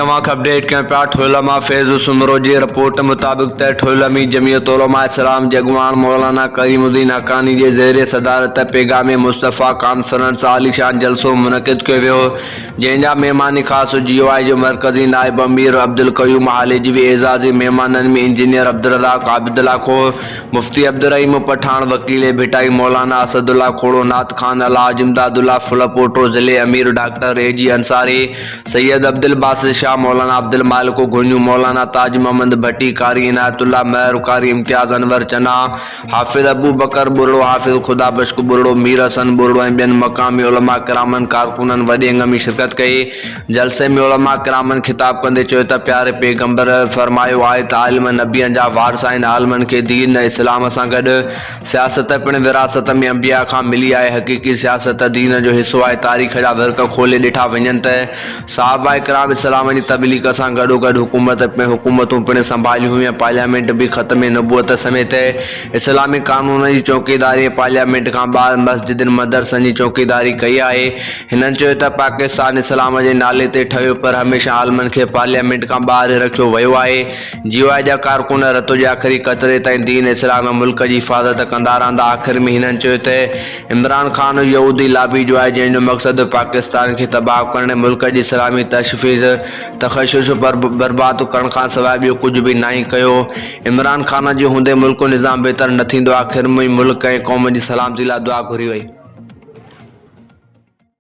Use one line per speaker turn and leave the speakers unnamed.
اوهان کي اپڊيٽ ڪيون پيا ٺويل مان فيض سومرو جي رپورٽ مطابق ته ٺويل ۾ جمعيت علماء اسلام جي اڳواڻ مولانا ڪريم الدين حقاني جي زير صدارت پيغام مصطفيٰ ڪانفرنس عاليشان جلسو منعقد ڪيو ويو جنهن جا مهمان خاص جي يو آء جو مرڪزي نائب امير عبدالقيوم هاليجوي اعزازي مهمانن ۾ انجنيئر عبدالرزاق عابدلاکو مفتي عبدالرحيم پٺاڻ، وڪيل ڀٽائي، مولانا اسد الله کوڙو، نعت خوان الحاج امداد الله ڦل پوٽو، ضلعي امير ڊاڪٽر اي جي انصاري، سيد عبدالباسط شاهه، مولانا عبدالمالڪ گهوڃو، مولانا تاج محمد ڀٽي، قاري عنايت الله مهر، قاري امتياز انور چنا، حافظ ابوبڪر ٻرڙو، حافظ خدا بخش ٻرڙو، مير حسن ٻرڙو ۽ ٻين مقامي علماء ڪرامن، ڪارڪنن وڏي انگ ۾ شرڪت ڪئي. جلسي ۾ علماء ڪرامن خطاب ڪندي چيو ته پياري پيغمبر فرمايو آهي ته عالم نبين جا وارث آهن، عالمن کي دين ۽ اسلام سان گڏ سياست پڻ وراثت ۾ انبياء کان ملي آهي، حقيقي سياست دين جو حصو آهي، تاريخ جا ورق کولي ڏٺا وڃن ته صحابه ڪرام اسلام جي تبليغ سان گڏوگڏ حڪومت حڪومتون پڻ سنڀاليون هيون ۽ پارليامينٽ به ختم نبوت سميت اسلامي قانونن جي چوڪيداري ۽ پارليامينٽ کان ٻاهر مسجدن مدرسن جي چوڪيداري ڪئي آهي، هنن چيو ته پاڪستان اسلام جي نالي تي ٺهيو پر هميشه عالمن کي پارليامينٽ کان ٻاهر رکيو ويو آهي، جي يو آء جا ڪارڪن رت جي آخري قطري تائين دين اسلام ۽ ملڪ جي حفاظت ڪندا رهندا، آخر ۾ هنن چيو ته عمران خان يهودي لابي جو آهي جنهن جو مقصد پاڪستان کي تباهه ڪرڻ ۽ ملڪ جي اسلامي تشفيز تخشش برباد ڪرڻ کان سواء ٻيو ڪجهه به ناهي ڪيو، عمران خان جي هوندي ملڪ نظام بهتر نه ٿيندو، آخر ۾ ملڪ ۽ قوم جي سلامتي لاء دعا گهري وئي.